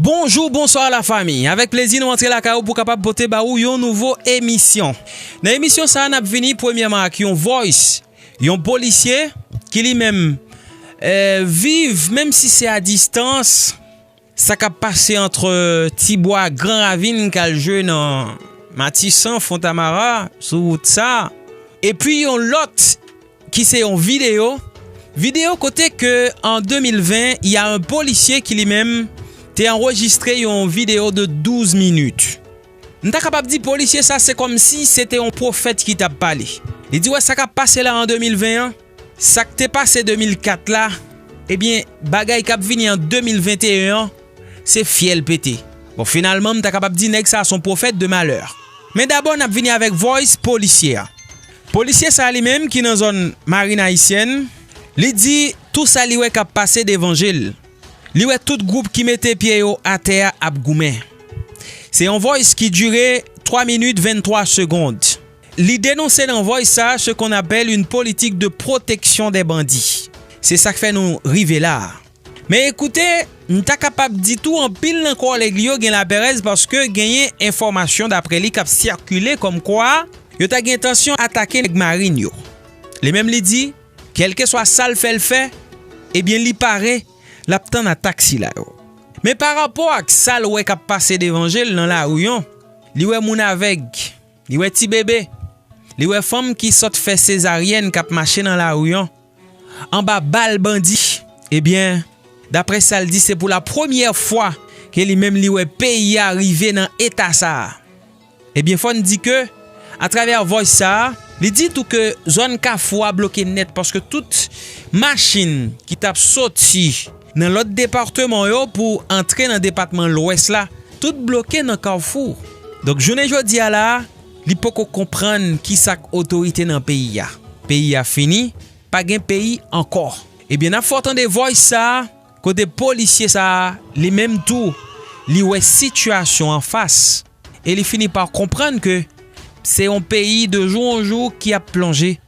Bonjou, bonswa la fami! Avèk plezi nou antre lakay ou pou kapab pote ba ou yon nouvo emisyon. Nan emisyon sa a n ap vini premyèman ak yon voice yon polisye ki li menm viv menm si se a distans. Sa kap pase antre Ti Bwa ak Gran Ravin kal jwe nan Matisan, Fontamara, sou wout sa. Epi yon lòt ki se yon videyo, videyo kote ke an 2020 y a un polisye ki li menm te anrejistre yon videyo de 12 minit. M ta kapab di polisye sa se kòmsi se te yon pwofèt ki tap pale. Li di wè sa kap pase la an 2020 an. Sak te pase 2004 la ebyen bagay kap vini an 2021 an se fyèl pete bon finalman m ta kapab di nèg sa son pwofèt de malè men dabò nap vini avèk vòys polisye a polisye sa li menm ki nan zòn marin ayisyèn li di tou sa li wè kap pase devan jel li wè tout gwoup ki mete pye yo atè a ap goumen se yon vòys ki dire 3 minit 23 segond. Li denonse nan voice sa ce qu'on appelle une politique de protection des bandits. Se sak fè nou rive la a. Men ekoute, m ta kapab di tou anpil nan kòlèg li yo gen laperèz paske genyen enfòmasyon daprè li k ap sikile kòm kwa yo ta gen entansyon atake nèg Marine yo. Li menm li di, kèlkeswa sa l fè l fè, ebyen li pare, l ap tann atak sila yo. Men parapò ak sa l wè k ap pase devan je l nan lari an, li wè moun avèg. Li wè ti bebe. Li wè fanm ki sot fè sezaryèn kap mache nan lari an anba bal bandi. Ebyen daprè sal di se pou la premyè fwa ke li menm li wè peyi a rive nan eta sa. Ebyen fòn di ke a travè vòys sa li di tou ke zòn kafou a bloke nèt paske tout machin ki tap soti. Nan lòt departeman yo pou antre nan depatman lwès la tout bloke nan kafou. Donk jounen jodi a la a li poko konprann ki sa k otorite nan peyi a. Peyi a fini, pa gen peyi ankò. Ebyen n ap fè w tande vòys sa a kote polisye sa a li menm tou li wè sitiyasyon an fas e li fini pa konprann ke se yon peyi de jou an jou ki ap plonje.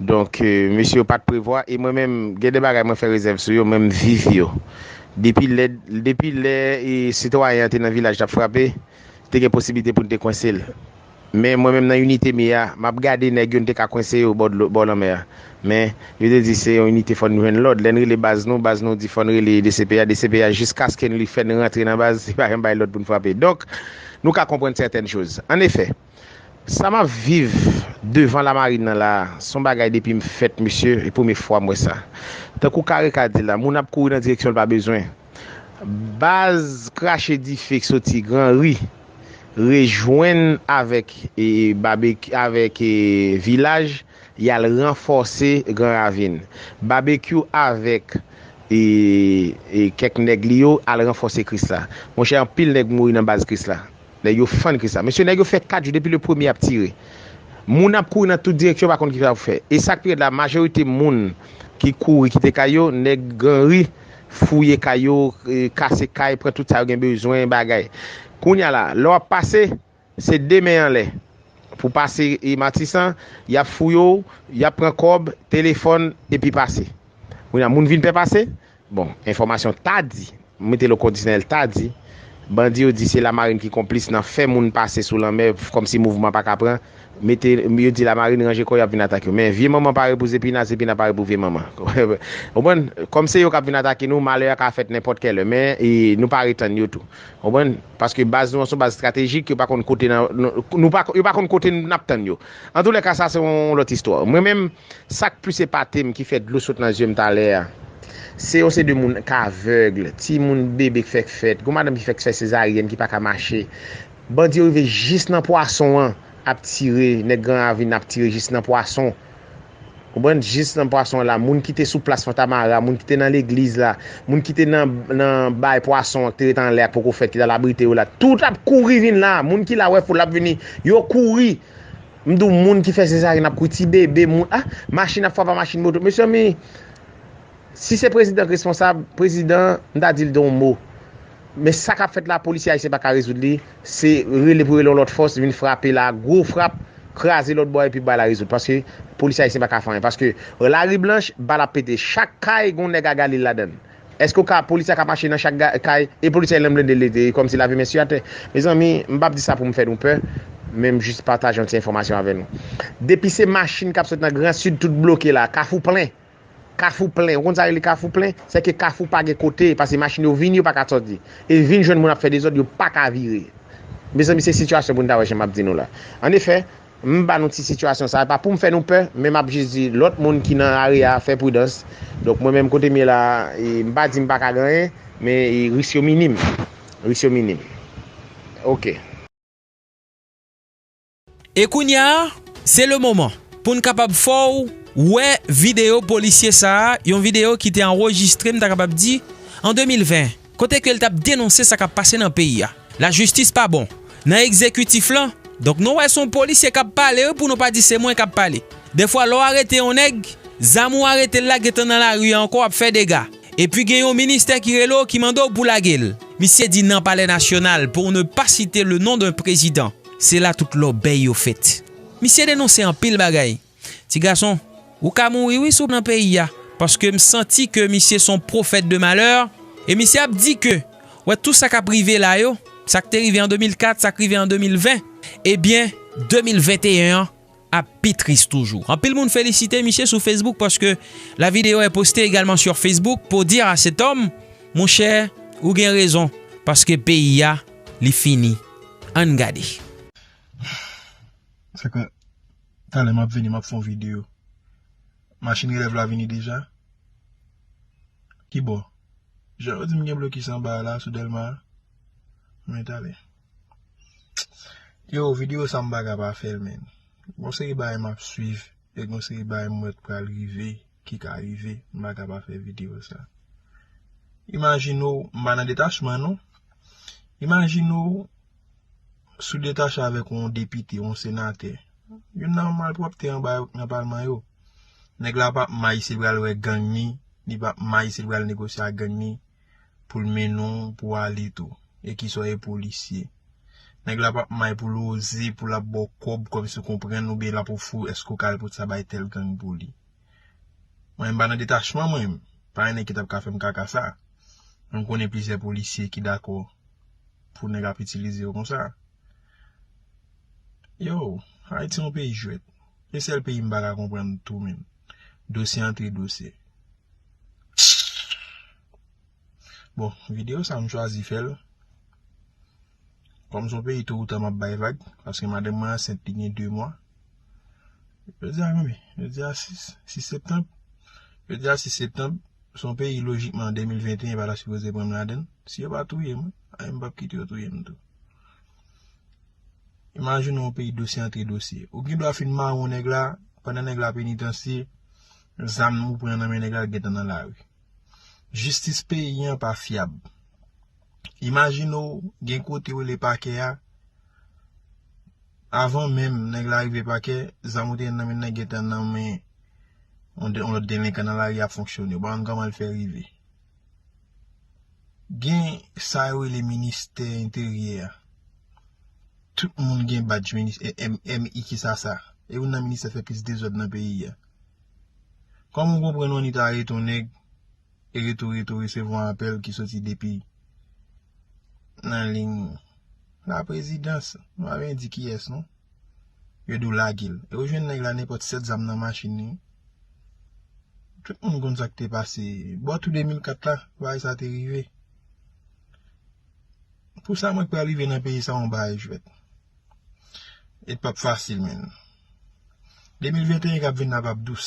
Donk mesye yo pat prevwa e mwen menm gen de bagay mwen fè rezèv sou yo men m viv yo. Depi lè depi lè sitwayen an te nan vilaj tap frape te gen posiblite pou n te kwense l men mwen menm nan inite m ye a map gade nèg yo n te ka kwense yo bò dlo bò lanmè a men yo te di se yon inite fò n jwenn lòd lè n rele baz nou baz nou di fò n rele dcpj dcpj jiskasken li fè n rantre nan baz li pa janm bay lòd pou n frape donk nou ka konprann sètèn choz annefè. Sa map viv devan la marine nan la son bagay depim fèt mesye e premye fwa m wè sa tankou kareka di la moun ap kouri nan direksyon l pa bezwen baz krache dife k soti gran ri rejwenn avèk babekyou avèk vilaj yal ranfòse gran ravin babekyou avèk kèk nèg li yo al ranfòse krisla monchè anpil nèg mouri nan baz krisla. Nèg yo fann kri sa. Mesye nèg yo fè 4 jou depi le premye ap tire. Moun ap kouri nan tout direksyon yo pa konn kisa pou fè. E sak pi rèd la majorite moun ki kouri kite kay yo nèg gran ri fouye kay yo kase kay pran tout sa yo gen bezwen bagay. Kounya la lè wap pase se 2 men anlè pou pase matisan yap fouye w yap pran kòb telefòn epi pase. Kounya moun vin pè pase Bon, enfòmasyon ta di, m mete l o kondisyonèl ta di, bandi yo di se Lamarin ki konplis nan fè moun pase sou lanmè kòmsi mouvman pa ka pran, mete, yo di Lamarin ranje kò yo ap vin atake yo. Men, vye manman pare pou zepina, zepina pare pou vye manman. Ou konprann? Kòm se yo k ap vin atake nou, malè a ka fèt nenpòt kèlè, men, nou pare tann yo tou. Ou konprann? Paske baz nou an se yon baz estratejik, yo pa konn kote nan, nou pa, yo pa konn kote n ap tann yo. Antoulèka sa se yon lòt istwa. Mwen menm, Sak plis epatem ki fè dlo sot nan yeux m talè a se yon se de moun k aveugle ti moun bebe k fèk fèt gon madanm ki fèk fè sezaryèn ki paka mache bandi yo rive jis nan pwason an ap tire nèg gran ravin ap tire jis nan pwason konprann jis nan pwason an la moun kite sou plas fantamara moun kite nan legliz la moun kite nan bay pwason an ki te ret anlè a poko fèt ki tal abrite yo la tout ap kouri vin la moun ki la wè foul ap vini yo kouri. M di w moun ki fè sezaryen ap kouri ti bebe moun ah machin ap fwapa machin moto mesyami si se prezidan k responsab prezidan m ta di l don mo men sa kap fèt la polisye ayisyen pa ka rezoud li se rele pou rele yon lòt fòs vin frape la gwo frap kraze lòt bò epi bal la rezoud paske polisye ayisyen pa ka fè anyen paske lari blanch bal ap pete chak kay gon nèg a Galil ladan l. Eske ou ka police a ka mache nan chak kay e police a lan blende leve e komsi lave men su atè mezanmi m pap di sa pou m fè nou pè men m jis pataje yon ti enfomasyon avè nou depi se machin kap sot nan gran sud tout bloke la kafou plen kafou plen ou konn sa rele kafou plen se ke kafou pa gen kote pase machin yo vini yo pa ka soti e vin jwenn moun ap fè dezod yo pa ka vire mezanmi se sitiyasyon pou nou ta wè jan map di nou la an efè M ba nou ti sitiyasyon sa, e pa poum fè nou pè, men map jis di lòt moun ki nan lari a fè pridans, donk mwen menm kotem ye la m pa di m paka gen anyen, men risk yo minim, risk yo minim ok. E kounya se le moman poun kapab fèw wè video polisye sa, yon video ki te anrejistre m ta kapab di an 2020. Kote ke l tap denonse sa kap pase nan peyi a. La jistis pa bon nan ekzekitif lan. Donk nou wè se yon polisye kap pale wi pou nou pa di se mwen kap pale. Defwa lè w arete yon nèg, zam ou arete l la gentan nan lari a ankò ap fè dega. Epi gen yon ministè ki rele w ki mande w pou lage l. Misye di nan palè nasyonal pour ne pas citer le nom d'un président. Se la tout lòbèy yo fèt. Misye denonse anpil bagay. Ti gason, ou ka mouri wi si w nan peyi a, paske m santi ke misye son pwofèt de malè, e misye ap di ke wè tou sa k ap rive la yo, sa k te rive an 2004, sa k rive an 2020, ebyen 2021 an ap pi tris toujou. Anpil moun felisite misye sou Facebook paske la video est postee egalement sur Facebook pour dire à cet homme, Monchè, ou gen rezon, paske peyi a li fini. Ann gade. Talè map vini map fon video. Machin relèv la vini deja? Kibò? Jan yo dim gen blokis anba a la sou Delma a? Mwen tale. Yo video sa m paka pa fèl menn. Gon seri bagay map swiv e gon seri bagay m wè k pral rive, ki ka rive, m paka pa fè video sa. Imajine w, m pa nan detachman non. Imajine w. Sou detache avèk yon depite, yon senatè. Youn nan malpwòpte anba yo nan palman yo. Nèg la pap may si li pral wè gang ni, li pap may si li pral negosye ak gang ni pou l mennen w pou w ale tou. E ki sa w ye polisye. Nèg la pap may pou l oze pou l ap ba w kòb kòmsi w konprann oubyen l ap ofri w èske w ka al pote sa bay tèl gang pou li. Mwen m pa nan detachman mwen m pa yon nèg ki tap ka fèm kaka sa mwen konnen plizyè polisye ki dakò pou nèg ap itilize yo konsa yow ayiti yon peyi jwèt se sèl peyi m pa ka konprann tou menm dosye antre dosye bon videyo sa m chwazi fèl. Kòm son peyi to ou ta map bay vag paske madanm mwen ansent li gen 2 mwa jodi a konbyen jodi a 6 6 septanb jodi a 6 septanb son peyi lojikman an 2021 pa ta sipoze pranm ladann si yo pa touye mwen a m pap kite yo touye m tou imajine yon peyi dosye antre dosye ou gen dwa fin mawon nèg la pandan nèg la penitansye zam ou pran nan men nèg la gentan nan lari jistis peyi an pa fyab Imajine w gen kote w rele pakè a, avan menm nèg la rive pakè, zam ou te gen nan men nan gentan nan men yon lòt delenkan nan lari ap fonksyone. Ou pa konn kòman l fè rive. Gen sa yo rele ministè enteryè a. Tout moun gen badj ministè, MI ki sa sa. E youn nan ministè fè plis dezòd nan peyi a. Kòman w konprann w annik arete yon nèg, e retou retou resevwa apèl ki soti depi nan liy laprezidans, nou pa byen di kiyès non, yo di w lage l. E ou jwenn nèg la nenpòt 7 zam nan machin li. Tout moun konn sa k te pase. Bò tou 2004 la, bagay sa te rive. Pou sa mwen k pral rive nan peyi sa yon bagay jwèt. E l pap fasil menm. 2021 k ap vin nan pap dous.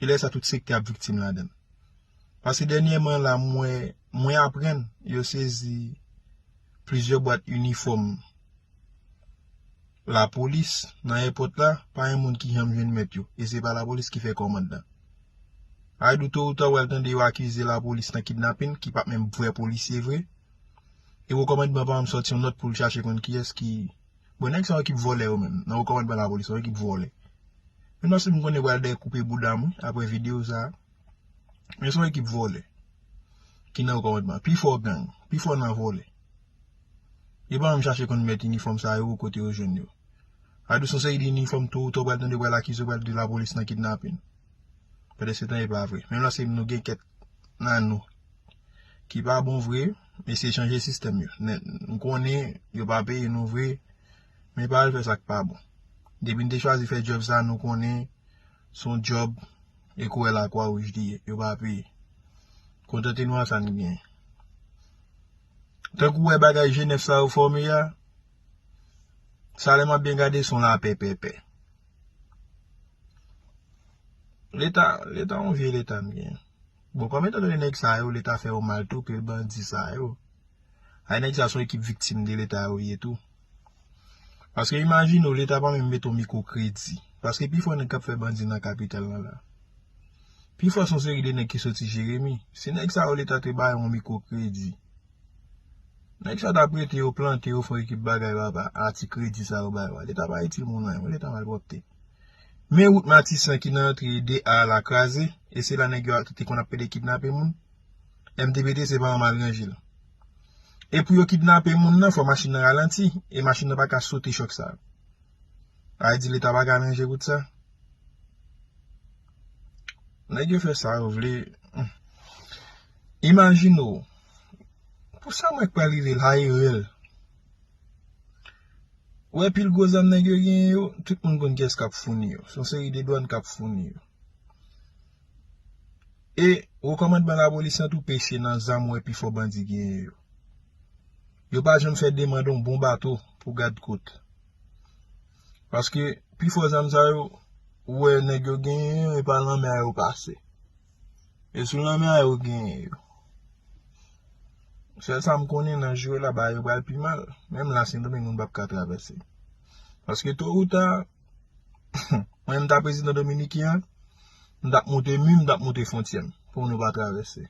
E lè sa tout sektè ap viktim ladann. Paske dènyèman la m wè, mwen aprann yo sezi plizyè bwat inifòm lapolis nan èpòt la, pa yon moun ki janm jwenn mèt yo. E se pa lapolis ki fè kòmand lan. Ayidou to ou ta ou al tande yo akize lapolis nan kidnapin ki pa menm vrè polisye vre. E wo kòmandman pa menm sòti yon nòt pou l chache konn kiyès ki. Bon nèg sa ekip vòlè yo menm nan okòmandman lapolis son ekip vòlè menm paske m konnen yo pral dèyè koupe boudam wi aprè video sa men son ekip vòlè ki nan okòmandman pifò gang pifò nan vòlè yo pa menm chache konn mèt inifòm sa yo kote yo jwenn yo sa vle di son seri de inifòm to ou ta ou pral tande yo pral akize yo pral di lapolis nan kidnapin pèdèsetan epa vre menm la se nou gen kèt nan nou. ki pa bon vre men se chanje sistèm yo nèt nou konnen yo pa peye nou vre men pa al fè sak pa bon depi nou te chwazi fè djòb sa nou konnen son djòb e kouwè la kwa wouj li ye yo pa peye kontante nou a sa nou genyen tankou wè bagay jenèf sa yo fòme ya sa lè map byen gade son la pè pè pè leta leta yon vye leta nou genyen. Bon kòm etan done nèg sa yo leta fè yo mal tou pil bandi sa yo ay nèg sa yo son ekip viktim de leta yo ye tou paske imajine w leta pa menm mete yon mikwo kredi paske pi fò nèg kap fè bandi nan kapital lan la pi fò son seri de nèg ki soti jeremi si nèg sa yo leta te bay yon mikwo kredi nèg sa yo tap rete yo plante yo fè yon ekip bagay papa a ti kredi sa yo bay yo a leta pa itil moun anyen leta malpwòpte. Men wout matisan ki nan antre 2 a la kraze e se la nèg yo te konn ap pede kidnape moun. MTBT se pa yon mal ranje l. E pou yo kidnape moun nan fò machin nan ralanti e machin nan pa ka sote chòk sa. Ay di leta pa ka ranje wout sa. Nèg yo fè sa yo vle. Imajine w pou sa mwen k pral rive la e rèl. Ou wè pil gwo zam nèg yo genyen yo, tout moun konn kiyès kap founi yo. Son seri de dwann kap founi yo. E wo kòmandman lapolis lan tou peche nan zam ou wè pi fò bandi genyen yo. Yo pa janm fè demand yon bon bato pou gad kot. Paske pi fò zam sa yo, ou wè nèg yo genyen yo, e pa lanmè a yo pase. E sou lanmè a yo genyen yo. Sèl sa m konnen nan jou yo la bagay yo pral pi mal. Menm la Sendomeng moun pap ka travèse. Paske to ou ta, mwen menm m ta prezidan Dominiken an, m tap monte mi, m tap monte fontyè m pou moun yo pa travèse.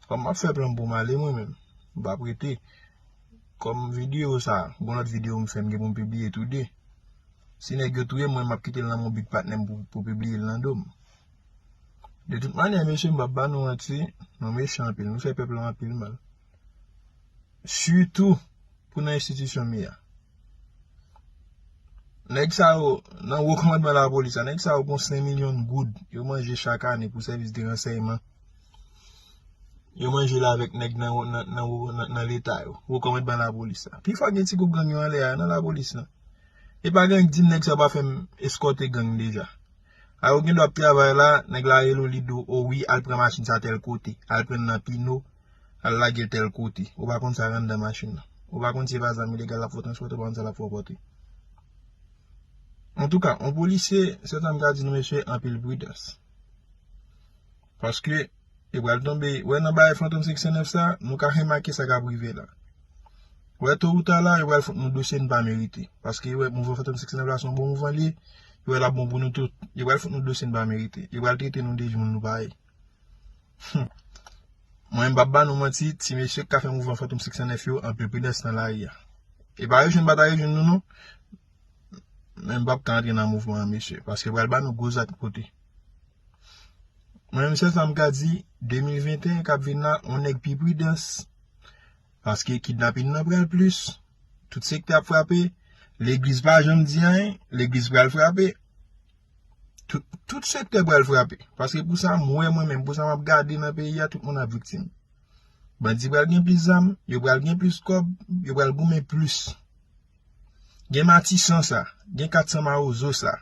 Kòm m ap fè plan m pou m ale mwen menm. M pap rete. Kòm videyo sa, gon lòt videyo m fè m gen pou m pibliye tou de. Si nèg yo touye m mwen m ap kite l nan men yon bit patnè m pou pibliye l nan do m. De tout manyè mesye m pap ba nou manti, nou mechan anpil, nou fè pèp lan anpil mal. Sitou pou nan enstitisyon mi a. Nèg sa yo, nan wo kòmandman lapolis la, nèg sa yo gon 5 milyon goud yo manje chak ane pou sèvis de ransèyman. Yo manje la avèk nèg nan leta yo, wo kòmandman lapolis la. Pi fò gen ti gwoup gang yo anlè a, nan lapolis la. E pa gen ank di m nèg sa yo pa fè m eskòte gang deja. A yo gendwa ap travay la, nèg la rele w li di w o wi al pran machin sa tèl kote, al pran l nan pino, al lage l tèl kote, ou pa konn sa k anndan machin nan. Ou pa konn si e pa zam ilegal l ap fè w transpòte, ou pa konn sa l ap fè w pòte. Antouka, yon polisye, sèl sa m ka di nou mesye, anpil pridans. Paske, li pral tonbe. Ou wè nan bagay Fantom Seksyon 9 sa, nou ka remake sa k ap rive la. Ou wè to ou ta la, yo pral fout nou dosye nou pa merite. Paske yo wè mouvman Fantom Seksyon 9 la se yon bon mouvman li ye. Yo wè l ap bon pou nou tout. Yo pral fout nou dosye nou pa merite. Yo pral trete nou de moun nou pa ye. Hum! Mwen m p ap ba nou manti, ti mesye k ka fè mouvman Fantom Seksyon 9 yo, anpil pridans nan lari a. E pa rejwenn pa ta rejwenn nou non. Men m p ap ka antre nan mouvman an mesye. Paske yo pral ba nou gwo zak pote. Mwen menm sèl sa m ka di, 2021 k ap vin la, on nèg pi pridans, paske kidnapin nan pral plis, tout sektè ap frape, legliz pa janm di anyen, legliz pral frape, tout sektè pral frape, paske pou sa m wè mwen menm, pou sa m ap gade nan peyi a, tout moun ap viktim. Bandi pral gen plis zam, yo pral gen plis kòb, yo pral goumen plis. Gen matisan sa, gen 400 mawozo sa.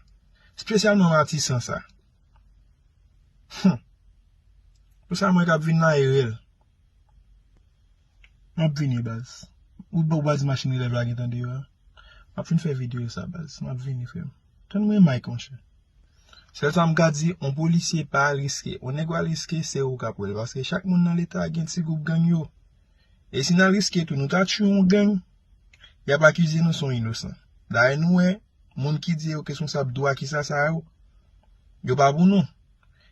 Spesyalman matisan sa. Hum. Pou sa mwen kap vin mayrel. Map vini baz. Ou pa waz machin elèv la gentan deyò a. Map fin fè video sa baz. Map vini frem. Tann mwen Mike monchè. Sèl sa m ka di, on polisye pa al riske. On nèg wal riske, se ou kap wèl. Paske chak moun nan leta gen ti gwoup gang yo. E si nan riske tou nou ta tchwe yon gang, y ap akize nou son inosan. Dayè nou wè, moun ki di yo kesponsab dwa kisa sa yo, yo pa pou nou.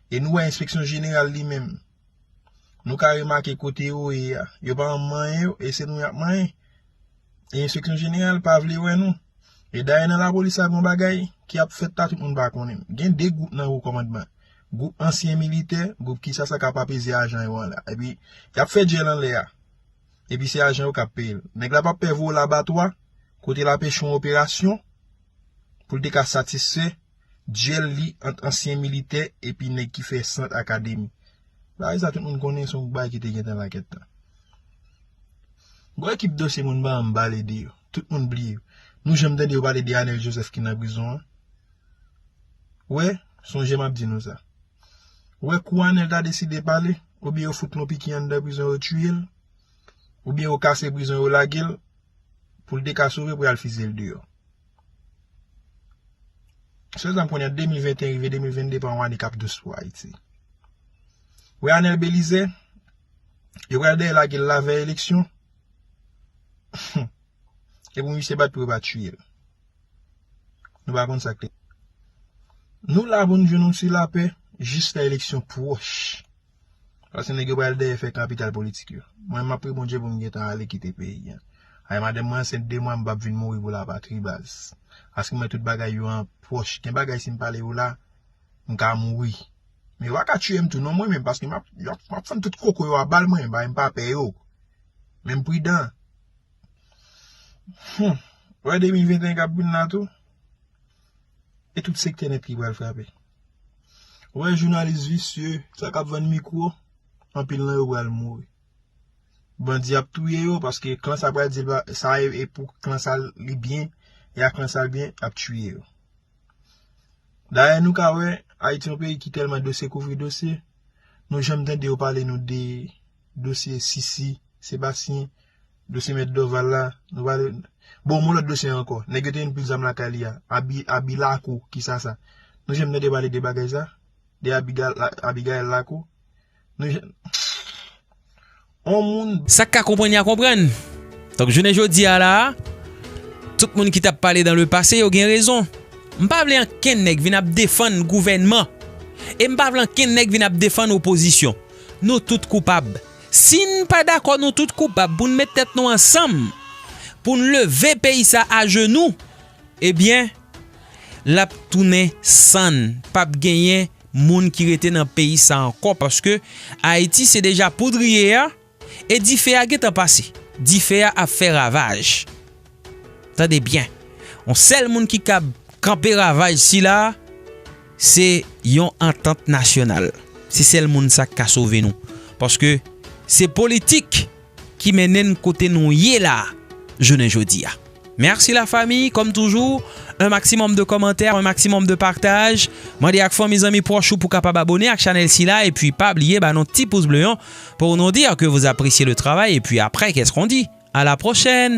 E nou wè enspeksyon jeneral li menm. Nou ka remake kote yo ye a, yo pa anm manyen yo, e se nou y ap manyen. E enspeksyon jeneral pa vle wè nou. E dayè nan lapolis la gon bagay ki ap fèt la tout moun pa konnen. Gen 2 gwoup nan wo kòmandman. Gwoup ansyen militè, gwoup kisa sa kap apeze ajan yo an la. Epi yap fè dyèl anlè a. Epi se ajan yo kap peyel. Nèg la pap pè voye labatwa, kote lap echwe yon operasyon, poul te ka satisfè dyèl li ant ansyen militè epi nèg ki fè sant akademi. Bagay sa tout moun konnen se yon bagay ki te gentan la kèt tan. Bon ekip dosye moun pa anm pale de yo. Tout moun bliye yo. Nou janm tande yo pale de Anel Joseph ki nan prizon an? Wè, sonje m ap di nou sa. Wè kou Anèl ta deside pale, oubyen yo fout l yon piki anndan prizon yo tiye l, oubyen yo kase prizon yo lage l, pou l te ka sove pou y al fizye l deyò. Sèlzam kounye a 2021 rive 2022 pa yon ane k ap dous pou Ayiti. Wè Anèl Belizè, yo pral dèyè lage l lavèy eleksyon. Humm. E pou misye bat pou yo pa tiye l. Nou pa konn sa k te. Nou la pou nou jwenn yon ti lapè jiska eleksyon pwòch. Pase nèg yo pral dèyè fè kapital politik yo. Mwen map priye Bondye pou m gentan ale kite peyi an. Ay madanm mwen ansent 2 mwa m pap vin mouri pou lapatri baz. Paske mwen tout bagay yo an pwòch. Gen bagay si m pale yo la m ka mouri. Men yo pa ka tiye m tou non mwen menm paske map map fann tout koko yo a bal mwen. Bagay m pa pè yo. Men m pridan. Humm ou wè 2021 kap vin la tou e tout sektè nèt ki pral frape ou wè jounalis visye sa kap vann mikro anpil nan yo pral mouri bandi ap touye yo paske klan sa pral di sa e pou klan sa li byen e a klan sa li byen ap tiye yo dayè nou ka wè ayiti yon peyi ki tèlman dosye kouvri dosye nou janm tande yo pale nou de dosye Sisi, Sebastien, dosye mèt Dorval la, nou pa de bon moun lòt dosye ankò, nèg yo te vin pil zam lakay li a, abi, abi lakou, ki sa sa? Nou janm tande pale de bagay sa? De abi ga, abi Gaëlle lakou? Nou janm On moun. Sa k ka konprann ya konprann. Donk jounen jodi a la a, tout moun ki t ap pale dan le pase yo gen rezon. M pa vle ankenn nèg vin ap defann gouvènman e m pa vle ankenn nèg vin ap defann opozisyon. Nou tout koupab. Si n pa dakò nou tout koupab pou n met tèt nou ansanm pou n leve peyi sa ajenou ebyen l ap tounen sann. P ap genyen moun ki rete nan peyi sa ankò paske Ayiti se deja poudriye a e dife a gentan pase. Dife a ap fè ravaj. Tande byen, yon sèl moun ki kab kanpe ravaj sila, se yon antant nasyonal. Se sèl moun sa k ka sove nou. Paske se politik ki mennen n kote nou ye la jounen jodi a. Mèsi la fami, kòm toujou, un maximum de kòmantè, un maximum de partaj. Mande ak fanmi, zanmi, pwòch ou pou kapab abone ak chanèl sila. Epi pa bliye ba nou ti pous ble an pou nou dir ke vous appreciez le travail. Epi aprè, kès kon di? A la pwochèn!